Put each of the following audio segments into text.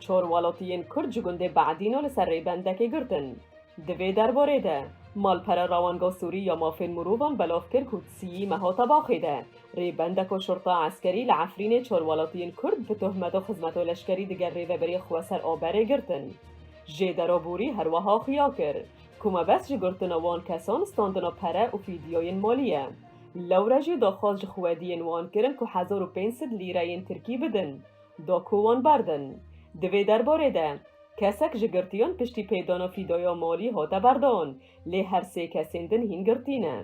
Çor welatiyên Kurd ji gundê Be'dîno li ser rêbendekê girtin. Di vê derbarê de, Malpera Rawanga Sûrî ya Mafên Mirovan belav kir ku di siyî meha Tebaxê de, rêbendeko şurta eskerî li Efrînê çor welatiyên Kurd bi tohmeto xizmeto leşkerî di gel rêveberiyê xwe ser a berê girtin. Jêdero Bûrî her weha xuya kir ku mebest ji girtina wan kesan standina pere û fîdyoyên malî ye. Lewre jî daxwaz ji xwediyên wan kirin ku hezar û pênc sed lîreyên tirkî bidin. Do ku wan berdin. Di vê derbarê de, kesek ji girtiyan piştî pêdana fîdaya malî hate berdan, lê her sê kesên din hîn girtî ne.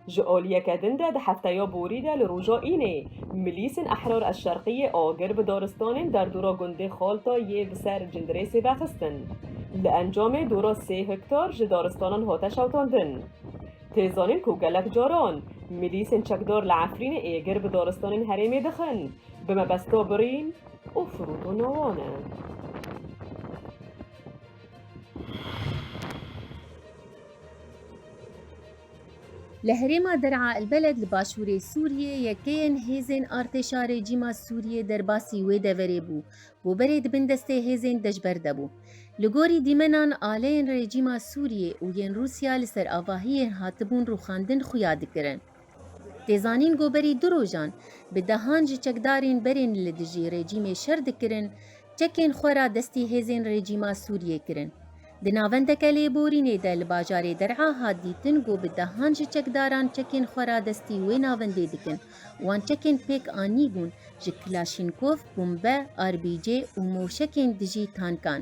Ji aliyeke din de di hefteya borî de li roja Înê, Milîsên Ehrar El Şerqîyê agir bi daristanên derdora gundê Xalta yê bi ser Cindirêsê ve xistin. Li encamê dora sê hektar ji daristanan hate şewitandin. Tê zanîn ku gelek caran mîlîsên çekdar li Efrînê êgir bi daristanên herêmê dixin, bi mebesta birîn û firûtana wan e. Li herêma Der'a el-Beled li başûrê Sûriyê yekeyên hêzên artêşa rejîma Sûriyê derbasî wê deverê bû Bo berê di bin destê hêzên dejber de bû. Li gorî dîmenan aleyên rejîma Sûriyê û yên Rûsya li ser avahiyên hatibûn rûxandin xuya dikirin. Tê zanîn ku berî du rojan bi dehan ji çekdarên berên li dijî rejîmê şer dikirin, çekên xwe radestî hêzên rejîma Sûriyê kirin. Di navendeke lêborînê de li bajarê Der'a hat dîtin ku bi dehan ji çekdaran çekên xwe radestî wê navendê dikin. Wan çekên pêk anîbûn ji kilaşînkov, bombe, RBG û moşekên dijî tankan.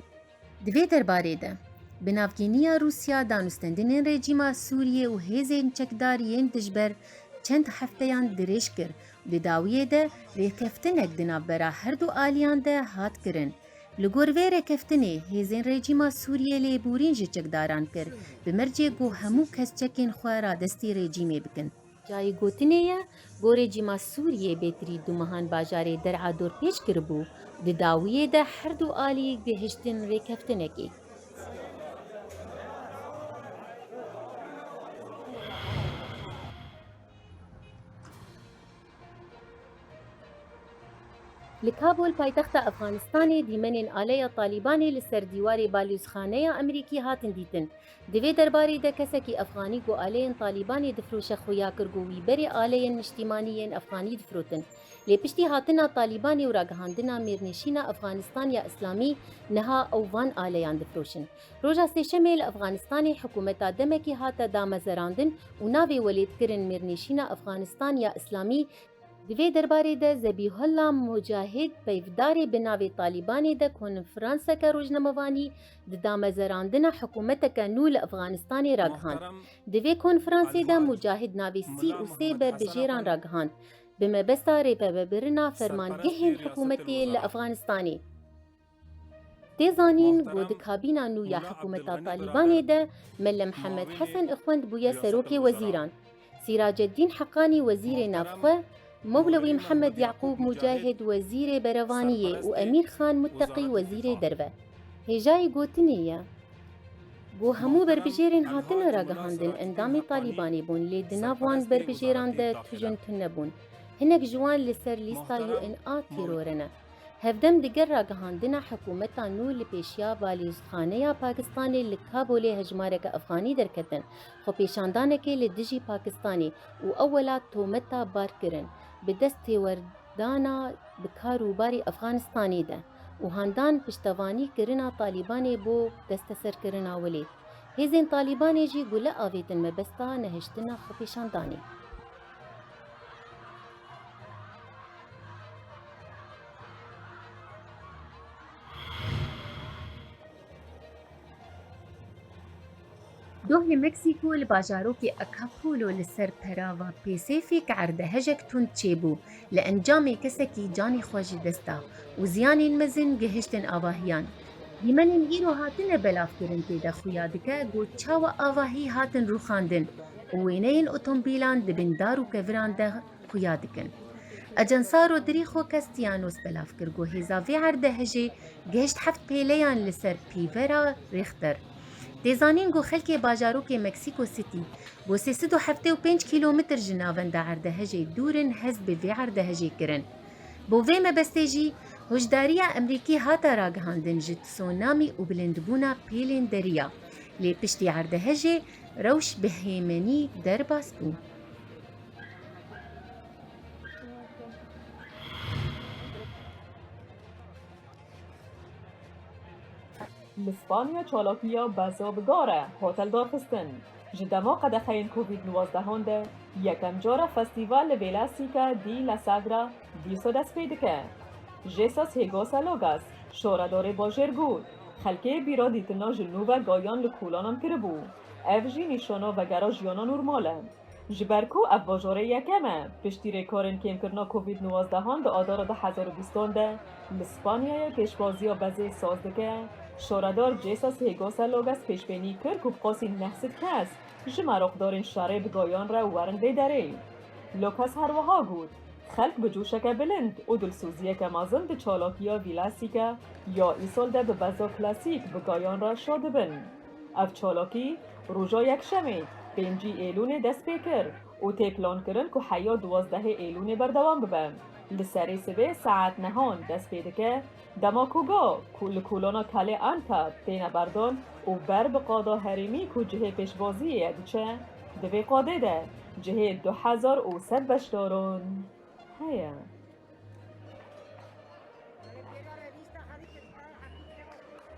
Di vê derbarê de, bi navgîniya Rûsya danûstendinên rejîma Sûriyê û hêzên çekdar yên dijber çend hefteyan dirêj kir û di dawiyê de rêkeftinek di navbera herdu aliyan de hat kirin. Li gor vê rêkeftinê, hêzên rejîma Sûriyê lêborîn ji çekdaran kir, bi mercê ku hemû kes çekên xwe radestî rejîmê bikin. Cayê gotinê ye ku rejîma Sûriyê bêtirî du mehan bajarê Der'a dorpêç kiribû û di dawiyê de her du alî gihiştin rêkeftinekê. Li Kabûl paytexta Efxanistanê dîmenên aleya Talîbanê li ser dîwarê balûzxaneya Amerîkî hatin dîtin. Di vê derbarê de kesekî Efxanî ku aleyên Talîbanê difiroşe xuya kir ku wî berê aleyên niştîmanî yên Efxanî difirotin. Lê piştî hatina Talîbanê û ragihandina mêrnêşîna Efxanistan ya Îslamî niha ew van aleyan difiroşin. Roja Sêşemê li Efxanistanê hikûmeta demekî hate damezerandin û navê welêtkirin mêrnîşîna Efxanistan ya Îslamî, Di vê derbarê de Zebîhullah Mûcahîd peyvdarê bi navê Talîbanê de konfranseke rojnamevanî di damezerandina hikûmeteke nû li Efxanistanê ragihand. Di vê konfransê de Mûcahîd navê sî û sê berbijêran ragihand bi mebesta rêpebebirina fermangehên hikûmetê li Efxanistanê. Tê zanîn ku di kabîna nû ya hikûmeta Talîbanê de Mele Mihemed Hesen Ixwend bûye Serokê Wezîran, Sîracedîn Heqanî Wezîrê Navxwe, Mewlewî Mihemed Yeqûb Mûcehid Wezîrê Berevaniyê û Emîr Xan Mutteqî Wezîrê Derve. Hêjayê gotinê ye ku hemû berbijêrên hatine ragihandin endamê Talîbanê bûn lê di nav wan berbijêran de tujin tune bûn. Hinek ji wan li ser lîsta UNA tîrore ne. Hevdem diger ragihandina hikûmeta nû li pêşiya balîstxaneya Pakistanê li Kabolê hejmareke Efxanî derketin, xwepêşandanekê li dijî Pakistanê û ew welat tometa barkirin bi dest têwerdana bi kar û barî Efxanistanê de û handan piştevanî kirina Talîbanê bo desteserkirina Wilê. Hêzên Talîbanê jî gule avêtin mebesta nehiştina xwepêşandanê. Dohê Meksîko li bajarokê Acapulco li ser perava Pêsêfîk erdehejek tund çêbû. Li encamê kesekî canê xwe ji dest da û ziyanên mezin gihiştin avahiyan. Dîmenên îro hatine belavkirin tê de xuya dike ku çawa avahî hatin rûxandin. û wêneyên otomobîlan di bin dar û keviran de xuya dikin. Ajansa Rodrigo Castianos belav kir ku hêza vê erde hejê gihişt heft pêleyan li ser pîvera Richter. Tê zanîn ku xelkê bajarokê Mexico City bo sê sed û heftê û pênc kîlometr ji navenda erdehejê dûr in hez bi vê erdehejê kirin. Bo vê mebestê jî hoşdariya Emerîkî hate ragihandin ji tsunamî û bilindbûna pêlên deriya. Lê piştî erdehejê, Rewş bi hêmenî derbas bû. Li Spanya çalakiya beza bi gar e hotel darxistin. Ji dema qedexeyên covid nûwezdehan de yekem cara festîval li Vêlesîke dî La Sagra, Dîso dest pê dike. Jesus Higos a Logas, şora dorê bojêr got, Xelkê bîra dîtina ji nû ve gayan li kolanan kiribû. Ev jî nîşana vegera jiyana normal e. Ji ber ku ev bajorê yekem e, piştî rêkarên kêmkirina Covid nuwazdehan di adara du hezar û bîst an de li Spanyayê pêşwaziya bezê saz dike, şoredar Jesus Higos a Logas pêşbênî kir ku bi qasî neh sed kes ji meroqdarên şerê bi gayan re werin vê derê. Logas herwiha got. Xelk bi coşeke bilind û dilsoziyeke mezin di çalakiya Vîlasîka ya Îsal de bi beza klasîk bi gayan re şa dibin. Ev çalakî roja Yekşemê pêncî Êlûnê dest pê kir û tê plankirin ku heya duwazdehê Êlûnê berdewam bibe. Li serê sibê saet nehan dest pê dike Dema ku ga ku li kolona Kalê Anta têne berdon û ber bi qada herêmî ku cihê pêşbaziyê ye diçe, di vê qadê de cihê du hezar û sed beşdaran heye.